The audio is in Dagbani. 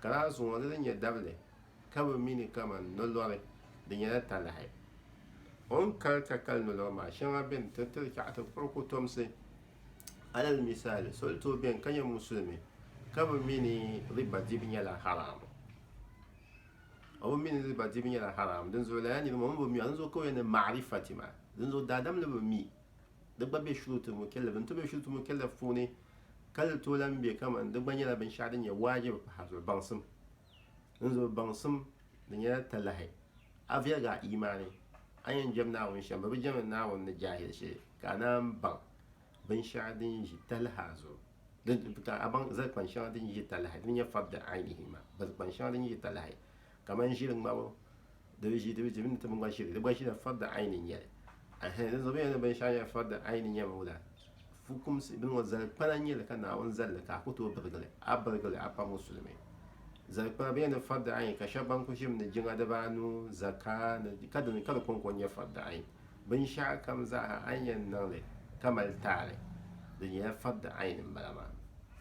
Ka lala zuŋɔ di ni nyɛ dabili ka bɛ mi ni kaman nolɔri, di nyɛla talahi. O ni kali ka kali nolɔri maa shɛŋa beni ti tiri chɛɣu ti kpuɣi kotomsi. Alal misali, so ni tooi beni ka nyɛ Musulimi ka bɛ mi ni riba dibu nyɛla haraam, o bi mi ni riba dibu nyɛla haraam, dinzuɣu lala nirimaa o mi bi mi a, dinzuɣu ka o yɛn ni maarifati maa, dinzuɣu daadam ni bi mi. di gba be shurutul mukallaf n ti be shurutul mukallaf puuni ka di tooi lahi be kamani di gba nyɛla binshɛɣu din nyɛ waajibi pahi zuɣu baŋsim n zuɣu baŋsim di nyɛla talahi a viɛligi a imaani a yɛn jɛm naawuni shɛm bi bi jɛmi naawuni ni jaahili shee ka a naan baŋ binshɛɣu din ʒi talaha zuɣu ka a baŋ zali kpani shɛŋa din ʒi talahi din nyɛ fabda ainihi ma bari kpani shɛŋa din ʒi talahi kamani ʒiri ŋmabu di bi ʒi di bi di mini ti bin gba ʒiri di gba ʒila farda aini n nyɛli ɛhɛn di zuɣu bɛyɛli binshɛɣu nyɛla farda aini nyɛmi wula fukumsi bin ŋɔ zali kpana nyɛli ka naawuni zali ka a ku tooi birigili a birigili a pam musulimi zali kpana bɛyɛli farda aini ka shɛba ban ku ʒimi ni jiŋa dibaanu zaka ni ka dini ka di kɔŋko nyɛ farda aini binshɛɣu kam zaaha a ni yɛn niŋli ka mali taali di nyɛla farda aini n bala maa